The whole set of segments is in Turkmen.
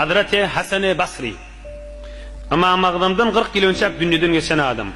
Hazreti Hasany Basry. Ymam Agzamdan kyrk ýyl önçäk dünýeden geçen adam.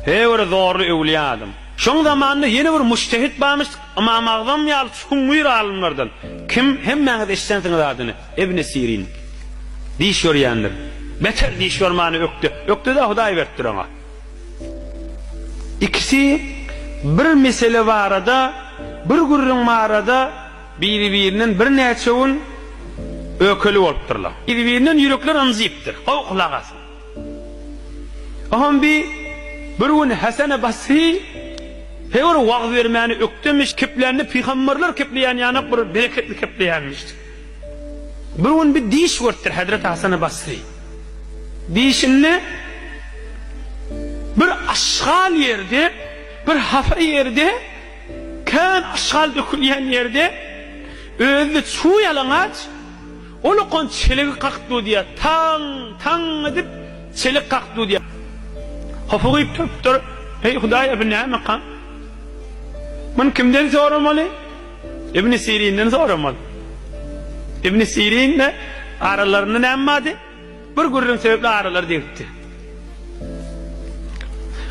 He bir zorly öwliýa adam. Şoň zamanynda ýene bir mujtehit barmyş, Ymam Agzam ýaly çuň müýr alymlardan. Kim? Hemmäňiz eşidensiňiz adyny. Ibni Sirin. Diş ýörýändir. Beter diş ýormany ökde. Ökde-de Hudaý beripdir oňa. Ikisi bir mesele barada, bir gürrüň barada, Biri-birinden birnäçe gün ökeli bolupdyrlar. Biri-birinden ýürekler ynjypdyr. Howh, lagasyn! Ahun bi bir gün Hasany Basry hewer wagyz bermäni ökdemiş, keplände pygamberler kepleýän ýanok bir bereketli kepleýänmiş. Bir gün bir diş görüpdir hezreti Hasany Basry. Dişinde bir aşgal ýerde, bir hapa ýerde, Kän aşgal dökülýän ýerde özüni çuw ýalaňaç ulukan çelegi kakyp dudýar. Taň, taň edip çelik kakyp dudýar. Hopy gyýyp turupdyr. Eý, Hudaý-a, bu nämeka? Muny kimden soramaly? Ibn Sirinden soramaly. Ibn Sirin-de aralarynda näme bardy? Bir gürrüň sebäpli aralary degipdi.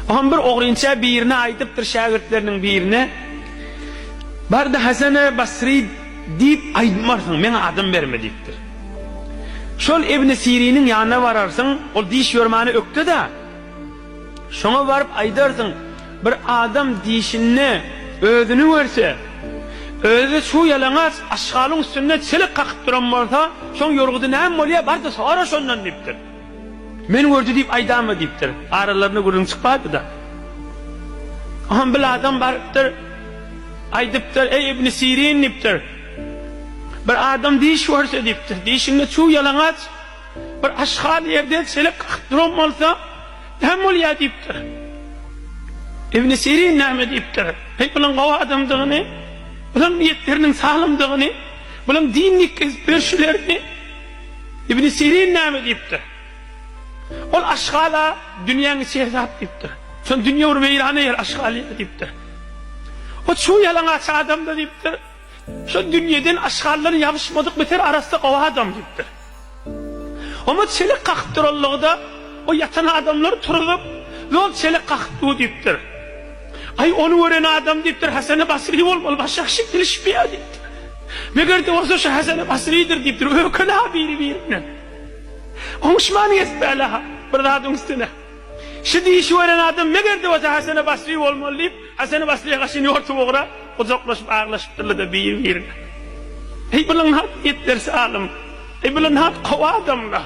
Oňam bir ogrynça birine aýdypdyr şägirtleriniň birine. Barda Hasana Basri diýip aýdmarsyň, meň adym berme diýipdir. Şol Ibn Siriniň ýanyna bararsyň, ol diş ýörmäne ökde-da. Şoňa baryp aýdarsyň, bir adam dişinde özüni görse, özi şu ýalaňaç aşgalyň üstünde çelik kakyp duran bolsa, şoň ýorgudy näme bolýa, bar-da sora şondan diýipdir. Men gördi diýip aýdamy diýipdir. Aralarynda gürrüň çykmapdy-da. Onam bil adam barypdyr, aýdypdyr, eý Ibni Sirin diýipdir, bir adam diş görse diýipdir, dişinde çuw ýalaňaç, Bir aşhal ýerde çelek kakyp duran bolsa, Näme bolýar diýipdir. Ibn Sirin näme diýipdir. Heý, bulaň gowy adamdygyny, bulaň niýetleriniň salymdygyny, bulaň din ýetkizip berşilerini Ibn Sirin näme diýipdir. Ol aşhala dünýäň içi hesap diýipdir. Şol dünýe bir weýran ýer aşhal ýer diýipdir. O çuw ýalaňaç adam-da diýipdir. Şol dünýeden aşgarlar ýabyşmadyk biter arassa gowy adam diýipdir. Oňa çelek kakyp duranlygda o ýatan adamlary turuzyp, Ýol çelek kakyp dur diýipdir. Aý, ony gören adam diýipdir, Hasany Basry bolmaly, baş ýagşy bilişmeýär diýipdir. Meger-de bolsa şu Hasany Basrydyr diýipdir, öküla biri-birinden. Oňuşman gezipärler-ha bir zadyň üstüne. Şu diýişi gören adam meger-de bolsa Hasany Basry bolmaly diýip, A sen Waslýa gaşyn ýortup ugra, gujaklaşyp aglaşypdyrlar-da biri-birine. Eý, bular nagt ýetdersi alym! Eý, bular nagt gowy adamlar!